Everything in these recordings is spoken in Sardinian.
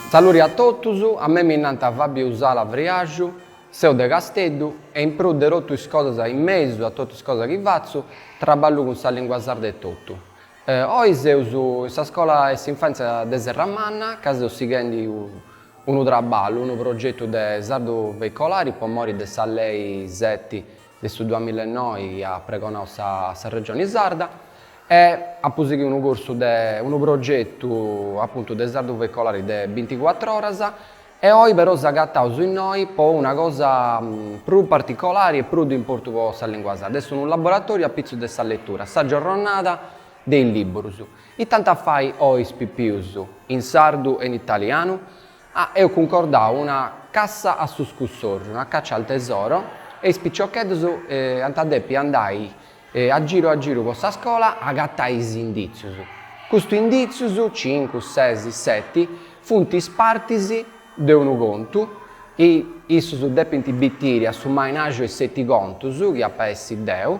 Saluri a totus, a mei mi nant Fabiu Usala Friaxu, seu de Casteddu e in prus de totu is cosas in mesu a totu is cosas chi fatzu, traballu cun sa lingua sarda etotu. Oi seus in sa scola 'e s'infantzia de Serramanna ca seu sighendi u. Unu traballu, unu progetu de sardu veicolari po mori de sa lei seti de su duamilla e noi dd'at pregonau sa sa Regioni Sarda e apu sighiu unu cursu de, unu progetu apuntu de sardu veicolari de binticuatru oras e oi però s'agataus innoi po una cosa prus particolari e prus de importu po sa lingua sarda, est unu laboratoriu apitzus de sa letura, sa giorronada de is libburus. It'ant a fai oi is pipius, in sardu e in italianu? Ah, eus cuncordau una cassa a su scussorxu, una caccia al tesoro, e is piciocheddus ant a depi andai a giru a giru po sa scola a agatai is inditzius. Custus inditzius, cincu, ses, seti, funt is partis de unu contu, e issus depint bitiri a su mainàrgiu 'e seti contus chi ap'a essi deu,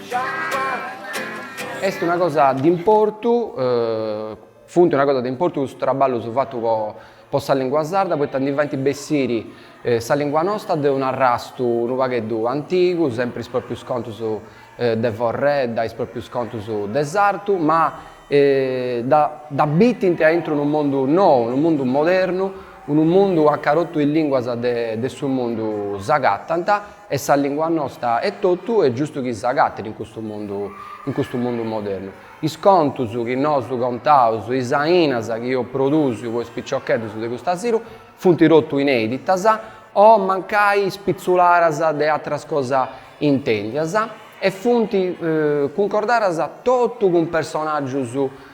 Est una cosa de importu, funt una cosa de importu custus traballus fatus po po sa lìngua sarda poita ndi faint bessiri sa lìngua nosta de un'arrastu unu pagheddu antigu, sempri is pròprius contus de forredda, is pròprius contus de sartu, ma dda dda bitint aintru unu mundu nou, unu mundu modernu, unu mundu aca totu is lìnguas de de su mundu s'agatant Est sa lìngua nosta etotu, est giustu chi s'agatit in custu mundu, in custu mundu modernu. Is contus chi nosu contaus, is ainas chi eus produsiu po is piciocheddus de cust'asilu funt totu inèditas o mancai spitzularas de atras cosas intèndias e funt cuncordadas totu cun personàgius